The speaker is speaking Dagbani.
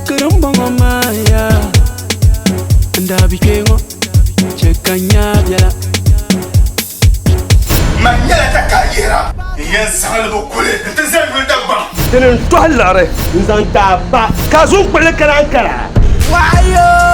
Kirim bɔŋɔ maa ya N daa bi kpee ŋɔ Chɛ ka n nyaa biɛla Man nyɛla takalihira n yɛn zaŋlibu kuli n ti zali yuli Dagbaŋ. Dini n tɔhi liɣiri n zaŋ ti a ba ka a zuŋ kpuɣili kara n kara. Waayoo.